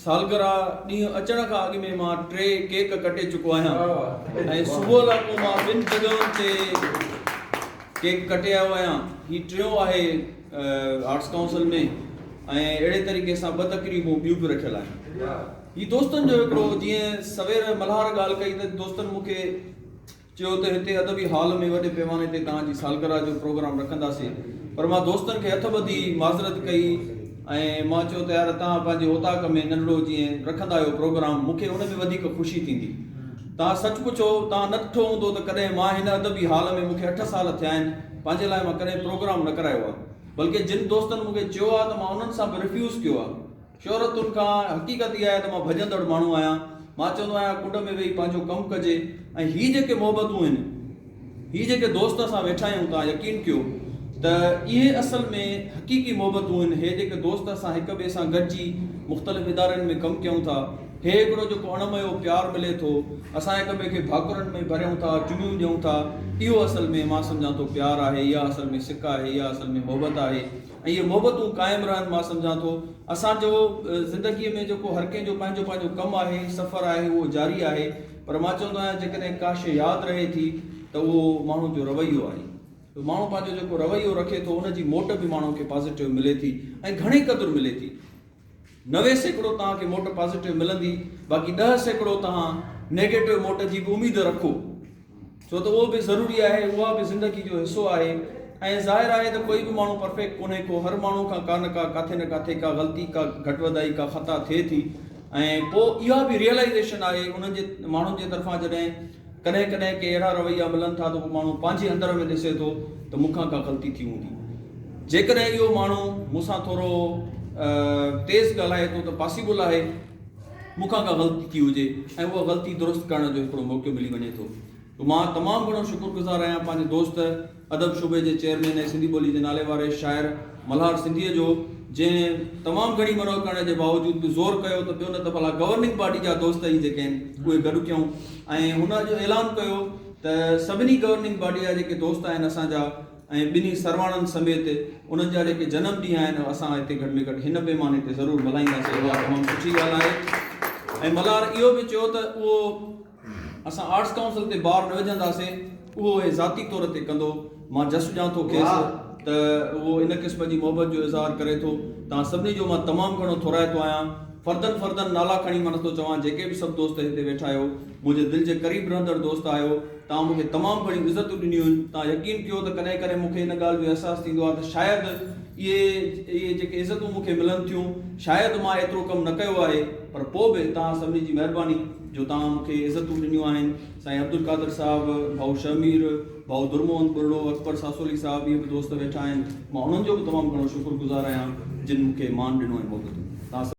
سالگرهه ڏينهن اچڻ کان اڳ ۾ مان ٽي ڪيڪ ڪٽي چڪو آهيان ۽ صبح لاء پوء مان ٻن جڳهين تي ڪيڪ ڪٽي آيو آهيان. هي ٽيون آهي آرٽس ڪائونسل ۾ ۽ اهڙي طريقي سان ٻه تقريبون ٻيون به رکيل آهن. هي دوستن جو هڪڙو جيئن سوير ملهار ڳالهه ڪئي ته دوستن مون کي. چيو ته هتي ادبي هال ۾ وڏي پيماني تي توهان جي سالگرهه جو پروگرام رکنداسين پر مان دوستن کي هٿ ٻڌي معذرت ڪئي ۽ مان چيو ته يار توهان پنهنجي اوطاق ۾ ننڍڙو جيئن رکندا آهيو پروگرام مون کي ان ۾ وڌيڪ خوشي ٿيندي توهان سچ پڇو توهان نه ڏٺو هوندو ته ڪڏهن مان هن ادبي هال ۾ مون کي اٺ سال ٿيا آهن پنهنجي لاء مان ڪڏهن پروگرام نه ڪرايو آهي بلڪه جن دوستن مون کي چيو آهي ته مان انهن سان به رفيوز ڪيو آهي شهرتن کان حقيقت اها آهي ته مان ڀڄندڙ ماڻهو آهيان. مان چوندو آهيان ڪنڊ ۾ ويهي پنهنجو ڪم ڪجي ۽ هي جيڪي محبتون آهن، هي جيڪي دوست اسان ويٺا آهيون توهان يقين ڪيو ته اهي اصل ۾ حقيقي محبتون آهن. هي جيڪي دوست اسان هڪ ٻئي سان گڏجي مختلف ادارن ۾ ڪم ڪيون ٿا، هي هڪڙو جيڪو اڻميو پيار ملي ٿو، اسان هڪ ٻئي کي ڀاڪرن ۾ ڀريون ٿا، چميون ڏيون ٿا، اهو اصل ۾ مان سمجهان ٿو پيار آهي، اها اصل ۾ سڪ آهي، اها اصل ۾ محبت آهي. اهي محبتون قائم رهن مان سمجهان ٿو اسان جو زندگي ۾ جيڪو هر ڪنهن جو پنهنجو پنهنجو ڪم آهي سفر آهي اهو جاري آهي پر مان چوندو آهيان جيڪڏهن ڪا شي ياد رهي ٿي ته اهو ماڻهو جو رويو آهي ته ماڻهو پنهنجو جيڪو رويو رکي ٿو ان جي موٽ به ماڻهو کي پازيٽو ملي ٿي ۽ گهڻي قدر ملي ٿي نوي سيڪڙو توهان کي موٽ پازيٽو ملندي باقي ڏهه سيڪڙو توهان نيگيٽو موٽ جي به اميد رکو ڇو ته اهو به ضروري آهي اها به زندگي جو حصو آهي ۽ ظاهر آهي ته ڪوئي به ماڻهو پرفيڪٽ ڪونهي ڪو هر ماڻهو کان ڪا نه ڪا ڪاٿي نه ڪاٿي ڪا غلطي ڪا گهٽ وڌائي ڪا خطا ٿئي ٿي ۽ پوء اها به ريئلائيزيشن آهي انهن جي ماڻهن جي طرفان جڏهن ڪڏهن ڪڏهن ڪي اهڙا رويا ملن ٿا ته ڪو ماڻهو پنهنجي اندر ۾ ڏسي ٿو ته مون کان ڪا غلطي ٿي هوندي. جيڪڏهن اهو ماڻهو مون سان ٿورو تيز ڳالهائي ٿو ته پاسيبل آهي مون کان ڪا غلطي ٿي هجي ۽ اها غلطي درست ڪرڻ جو هڪڙو موقعو ملي وڃي ٿو. مان تمام گهڻو شڪرگذار آهيان پنهنجي دوست ادب شعبي جي چيئرمين ۽ سنڌي ٻولي جي ناليواري شاعر ملهار سنڌيء جو جنهن تمام گهڻي منهه ڪرڻ جي باوجود به زور ڪيو ته ٻيو نه ته ڀلا گورننگ پارٽي جا دوست ئي جيڪي آهن اهي گڏ ٿيون ۽ هن اڄ اعلان ڪيو ته سڀني گورننگ پارٽي جا جيڪي دوست آهن اسان جا ۽ ٻنهي سرواڻن سميت انهن جا جيڪي جنم ڏينهن آهن اهي اسان هتي گهٽ ۾ گهٽ هن پيماني تي ضرور ملهائينداسين اها تمام سٺي ڳالهه آهي ۽ ملهار اهو به چيو ته اهو اسان آرٽس ڪائونسل تي بار نه وجهنداسين، اهو هي ذاتي طور تي ڪندو. مان جس ڏيان ٿو کيس ته اهو ان قسم جي محبت جو اظهار ڪري ٿو. توهان سڀني جو مان تمام گهڻو ٿورائتو آهيان. فردن فردن نالا کڻي مان نٿو چوان، جيڪي به سڀ دوست هتي ويٺا آهيو، منهنجي دل جي قريب رهندڙ دوست آهيو. توهان مون کي تمام گهڻيون عزتون ڏنيون آهن. توهان يقين ڪيو ته ڪڏهن ڪڏهن مون کي ان ڳالهه جو احساس ٿيندو آهي ته شايد اهي اهي جيڪي عزتون مون کي ملن ٿيون، شايد مان ايترو ڪم نه ڪيو آهي، پر پوء به توهان سڀني جي مهرباني. جو توهان مون کي عزتون ڏنيون آهن سائين عبدالقادر صاحب، ڀائو شهمير، ڀائو درمحمد ٻرڙو، اڪبر ساسولي صاحب ٻيا به دوست ويٺا آهن مان انهن جو به تمام گهڻو شڪر گذار آهيان جن مون کي مان ڏنو ۽ محبتون توهان سڀ.